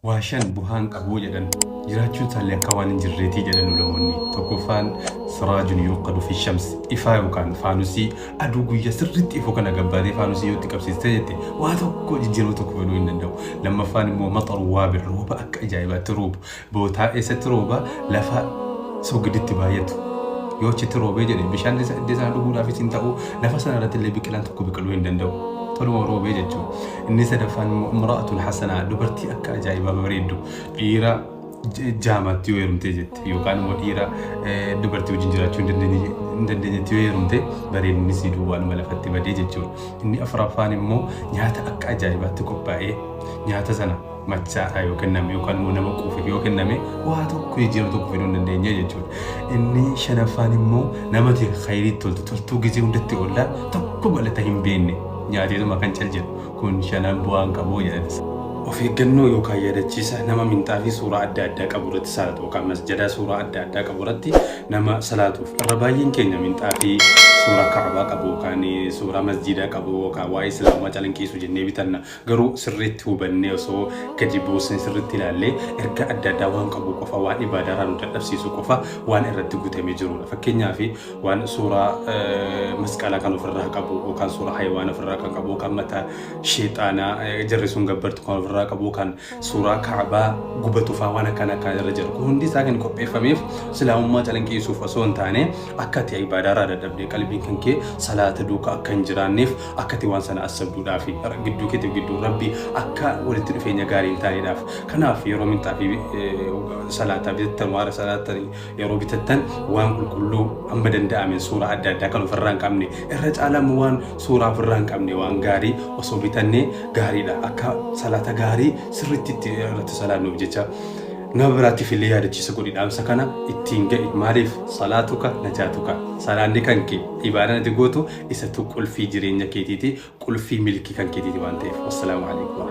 Waashaan bu'aa hin qabu jedhan. Jiraachuun isaallee akka waan hin jirreeti jedhan ulamoonni. Tokkoffaan siraajun yuuqadu fi shams ifaa yookaan faanusii aduu guyyaa sirriitti ifu kana gabbaatee faanusii yoo itti qabsiiste jette waa tokko jijjiirama tokko fiduu hin danda'u. Lammaffaan immoo maxaru waabir rooba akka ajaa'ibaatti roobu. Bootaa eessatti rooba? Lafa soogiditti baay'atu. Yoo achitti roobee jedhe bishaan isa iddoo sana dhuguudhaafis hin ta'u lafa sana irratti illee biqilaan tokko biqiluu hin danda'u. Toluma roobee jechuun. Inni sadaffaan immoo imra'atun hasanaa dubartii akka ajaa'ibaa bareeddu dhiira j- jaamatti yoo heerumtee jette yookaan immoo dhiira eh, dubartii wajjin jiraachuu hin dandeenye- hin dandeenyetti yoo heerumte bareedinni sii duwwaanuma lafatti badee jechuudha. Inni afuraffaan immoo nyaata akka ajaa'ibaatti qophaa'ee nyaata sana machaadhaa yoo kenname yookaan immoo nama quufeef yoo kenname waa tokko jijjiirama tokko fiduu hin dandeenye jechuudha. Inni shanaffaan immoo nama ta'e khayrii toltu toltuu gizee hundatti oolla tokko galata hin beekne nyaateetuma kan cal jedhu kun shanan bu'aan qabu jedhati. Of eeggannoo yookaan yaadachiisa nama minxaa fi suuraa adda addaa qabu irratti salaatu yookaan masjadaa suuraa adda addaa qabu irratti nama salaatuuf irra baay'een keenya minxaa fi suuraa kaabaa qabu yookaan suuraa masjidaa qabu yookaan waa'ee islaamaa calanqiisu jennee bitanna Garuu sirriitti hubannee osoo gadi buusnee sirriitti ilaallee ergaa adda addaa waan qabu qofa, waan ibaadaarraa nu dadhabsiisu qofa waan irratti guutamee jirudha. Fakkeenyaaf waan suuraa eh, masqalaa kan ofirraa qabu yookaan suuraa hayiwaana ofirraa kan qabu yookaan mataa sheexaanaa eh, jarri sun gabbartu kan ofirraa qabu yookaan suuraa kaabaa gubatufaa waan akkana akkaan irra jiru. Kun hundi isaa kan qopheeffameef islaamummaa calanqiisuuf osoo hin taane akka ati ibaadaarraa dadhabdee qalbiin kan kee salaata duukaa akka hin jiraanneef Akka ati waan sana assabduudhaa fi gidduu keetiif gidduu Rabbii akka walitti dhufeenya gaarii hin taaneedhaaf. Kanaaf yeroo minxaa fi salaataa bitattan waara salaatan yeroo bitattan waan qulqulluu amma danda'ameen suuraa adda addaa kan ofirraa hin qabne irra caalaa immoo waan suuraa ofirraa hin qabne waan gaarii osoo bitannee gaariidha akka salaata gaarii sirriitti itti irratti salaannuuf jecha. Nama biraatiif illee yaadachiisa godhi dhaamsa kana ittiin ga'i maaliif salaatuka najaatuka salaanni kan kee ibaadaan ati gootu isatu qulfii jireenya keetiiti qulfii milkii kan keetiiti waan ta'eef wassalaamu aleykum.